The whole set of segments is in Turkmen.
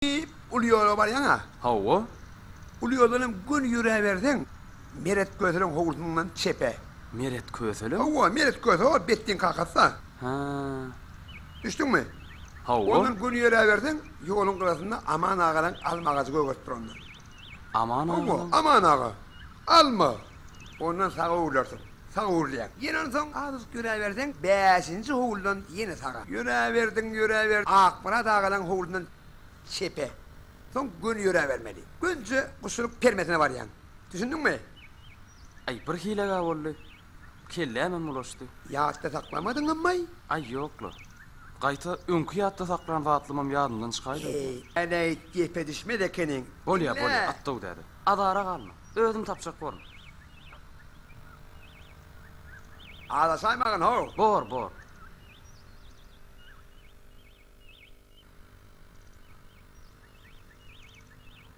diýip, uly ýola barýaň-a? Hawa. Uly ýoldan hem göni ýöräberseň, Meret Köseleň howlusynyňdan çepe. Meret Kösele? Hawa, Meret Köse o, Betdiň kakasy-da. Hä. Düşdüňmi? Hawa. Ondan göni ýöräberseň, ýoluň gyrasynda Aman agalaň alma agajy gögerip durandyr. Aman aganyň. Hawa, Aman aga. Alma. Ondan saga öwlersiň. Saga öwrülýäň. Ýene onsoň azajyk ýöräberseň, bäşinji howludan ýene saga. Ýöräberdiň, ýöräberdiň. Akmyrat agalaryň howlundan çepe. Soň göni ýöräbermeli. Gönje guşunyň permesine barýaň. Düşündiňmi? Aý, birhili-ä boldy. kellämem ulaşdy. Ýatda saklamadyňammaý? Aý, ýok-la. Gaýta öňki ýatda saklan zatlamam ýadymdan çykaýdy öýdýän. Eý, Äneýt gepedişmez ekeniň. Bolýa, bolýa, at-dow däde. Azara galma. Özüm tapjak borun. Azaşaýmagyn-how! Bor, bor.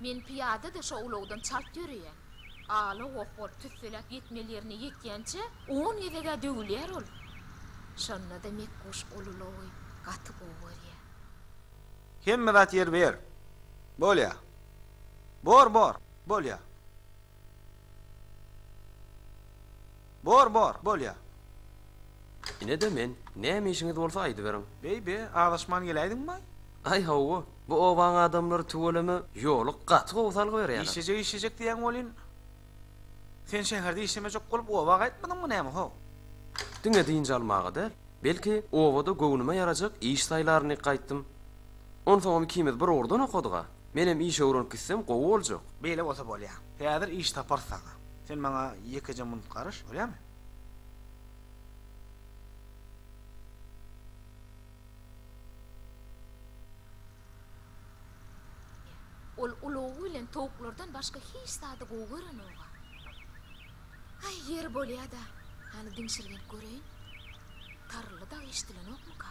Men pyýada-da şo ulagdan çalt ýöreýän. Ala goh bolup tüsseläp ýetmeli ýerine ýetýänçä on gezeg-ä döwülýär ol. Şonda-da Mekguş ol ulagy gaty gowy görýär. Hemme zat ýerbe-ýer. Bolýar. Bor, bor. Bolýar. Bor, bor, bolýa. Ine-de men. Näme işiňiz bolsa aýdyberiň. Beý-be, azaşman geläýdiňmaý? Aý, hawa. Bu obaň adamlary tüweleme ýoly gaty gowy salgy berýärler. Işlejek, işlejek diýýäň welin, sen şäherde işlemejek bolup, oba gaýtmadyňmy näme, ho? Diňe dynç almaga däl, belki, obada göwnüme ýarajak iş saýlaryn diýip gaýtdym. Onsoňam ikimiz bir ugurdan okadyg-a. Menem iş öwrenip gitsem gowy boljak. Beýle bolsa bolýa. Häzir iş taparys saňa. Sen maňa ýekeje munut garyş, bolýamy? Ol ulag bilen towuklardan başga hiç zady gowy görenok-a. Aý, ýeri bolýa-da, hany diňşirgenip göreýin. Tarylly dag eşdilenokmyka?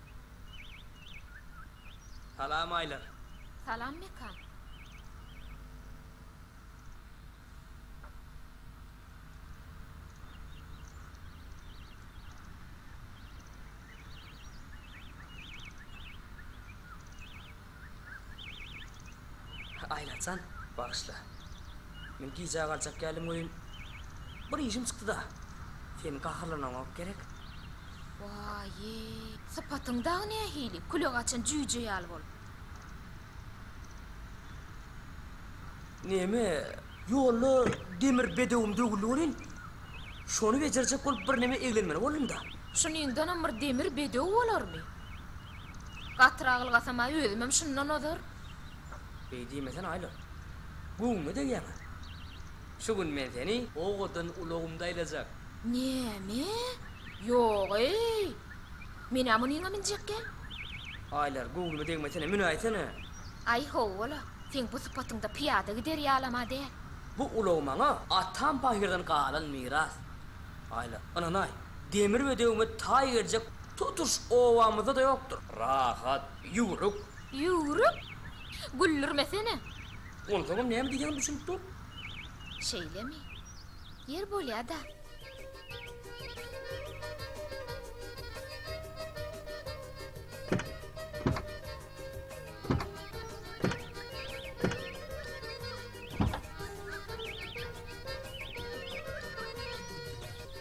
Salam Aýlar. Salam Mekan. Aýnajan, bagyşla. Men gijä galjak geldim welin, bir işim çykdy-da. Seniň gaharlanaňok gerek? Waýý, sypatyň dagy nähili, küle gaçan jüýje ýaly bolup. Näme, ýolda demir bedewim döwüldi welin, şony bejerjek bolup birneme eglenmeli boldum-da. Şunyňdanam bir demir bedew bolarmy? Gatyr agyl gasamaý özümem şundan ozar. Beý diýmesene Aýla. Göwnüme degýäň-a. Şu gün men seni owadan ulagymda aýlajak. Näme? Ýog-eý. Men-ä munyňa minjekkä. Aýlar, göwnüme degmesene, münäýsene. Aý ho-ola. Seň bu sypatyňda pyýada gider ýalam-a däl. Bu ulag maňa atam paýhyrdan galan miras. Aýla, ynanaý. Demir we döwmez taý geljek tutuş obamyzda-da ýokdur. Rahat, ýüwrük. Ýüwrük? Güldürmesene! Onsoňam näme diýseňem düşünip dur. Şeýlemi? Ýer bolýa-da.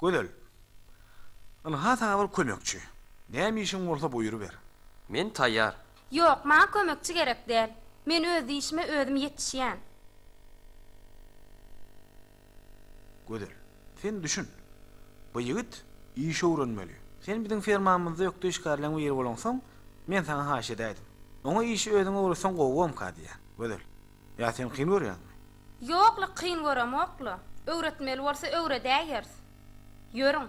Gözel. Ynha saňa bir kömekçi. Näme işiň bolsa buýruber. Men taýýar. Ýok, maňa kömekçi gerek däl. Men öz işime özüm ýetişýän. Gözel. Sen düşün. Bu ýigit iş öwrenmeli. Sen biziň fermamyzda ökde işgärleň biri bolaňsoň, men saňa haýyş edäýdim. Oňa işi özüň öwretseň gowugamka diýýän. Gözel. Ýa sen kyn görýäňmi? Ýok-la, kyn göremok-la. Öwretmeli bolsa öwredäýeris. Ýörüň.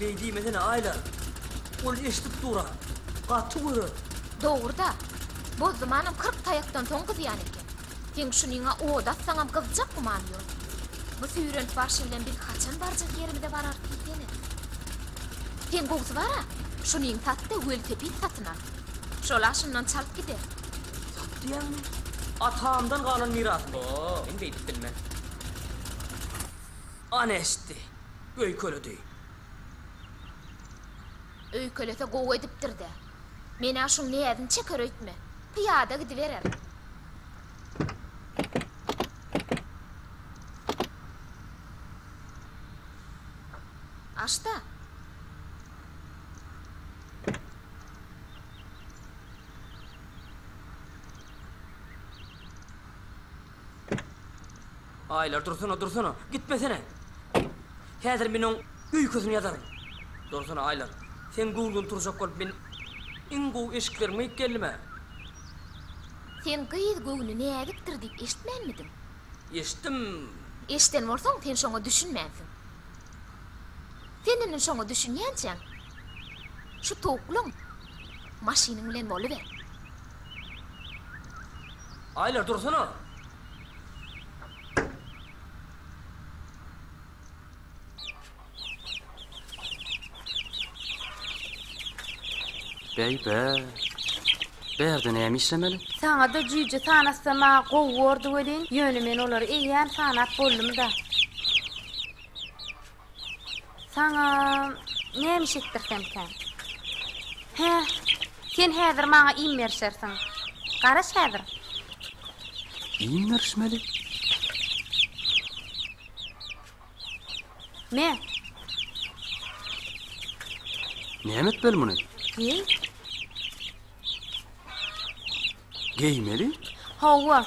Beý diýmesene, Aýlar. Ol eşidip dur-a. Gaty görer. Dogry-da, Bozdumanam kyrk taýakdan soň gyzýan eken. Seň şunyňa ot atsaňam gyzjak gümany ýok. Bu süýrenip barşy bilen biz haçan barjak ýerimize bararys diýsene. Seň gowusy bar-a, şunyňy sat-da, welosiped satyn al. Şol-a şundan çalt gider. Sat diýýäňmi? Atamdan galan mirasmy? Ýok, men beýdip bilmen. Ana eşitdi. öýkeledi. Öýkelese gowy edipdir-dä. Men-ä şuň näzini çeker öýtme. Pyýada gidiberer. Aç-da. Aýlar dursana, dursana, gitmesene! Häzir men oň öýkesini ýazaryn. Dursana, Aýlar, seň göwnüň turjak bolup men iň gowy eşiklerimi geýip geldim-ä. Sen gyz göwni näzikdir diýip eşitmänmidiň? Eşitdim. Eşiden bolsaň, sen şoňa düşünmänsiň. Sen indi şoňa düşünýänçäň, şu towuklyň maşynyň bilen boluber. Aýlar dursana. Bäý bä. Bärde näme işlemeli? Saňada jüýje sanasama gowy bordy welin, ýöne men olary eýýäm sanap boldum-da. Saňa näme iş etdirsemkä? Hä, sen häzir maňa iým berişersiň. Garaş häzir. Iým berişmeli? Me. Näme etmeli muny? Geý. Geýmeli? Hawa.